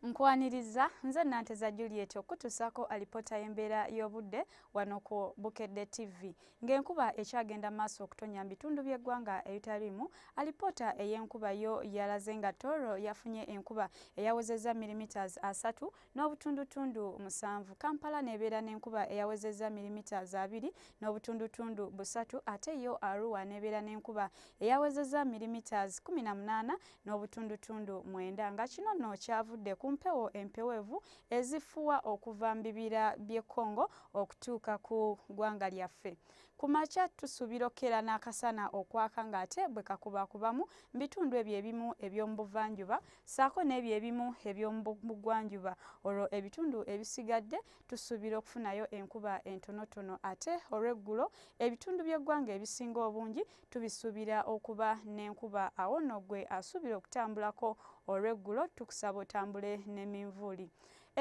Nkwaniriza nze Nanteza Juliet okutusaako alipoota y'embeera y'obudde wano ku Bukedde TV. Ng'enkuba ekyagenda maaso okutonya mu bitundu by'eggwanga ebitaliimu, alipoota ey'enkuba yo yalaze nga Tooro yafunye enkuba eyawezezza milimiters asatu n'obutundutundu musanvu. Kampala n'ebeera n'enkuba eyawezezza milimiters abiri n'obutundutundu busatu ate yo Arua n'ebeera n'enkuba eyawezezza milimiters kkumi na munaana n'obutundutundu mwenda nga kino nno kyavudde ku mpewo empewevu ezifuwa okuva mu bibira by'e Congo okutuuka ku ggwanga lyaffe. Ku makya tusuubira okukeera n'akasana okwaka ng'ate bwe kakubakubamu mu bitundu ebyo ebimu eby'omu buvanjuba ssaako n'ebyo ebimu eby'omu bugwanjuba olwo ebitundu ebisigadde tusuubira okufunayo enkuba entonotono ate olw'eggulo ebitundu by'eggwanga ebisinga obungi tubisubira okuba nenkuba awo no gwe asubira okutambulako olweggulo tukusaba otambule neminvuuli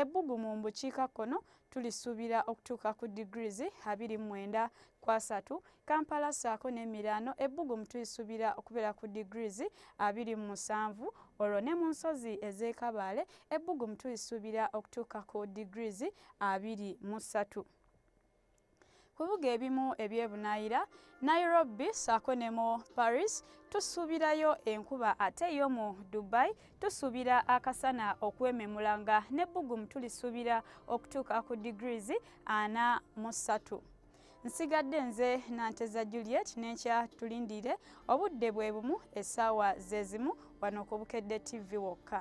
ebbugu mu mbukiika kkono tulisubira okutuuka ku degrees abiri mwenda kwasatu kampala saako nemiraano ebbugumu tulisubira okubeera ku degrees abiri mu musanvu olwo ne mu nsozi ezekabaale ebbugumu tulisubira okutuuka ku degrees abiri mu ssatu ku bibuga ebimu ebyebunaayira nairobi saako ne mu paris tusuubirayo enkuba ate yo mu dubai tusuubira akasana okwememula nga n'ebbugumu tulisuubira okutuuka ku degrees ana mu ssatu nsigadde nze nanteza juliet nenkya tulindiire obudde bwe bumu essaawa zezimu wano ku bukedde tv wokka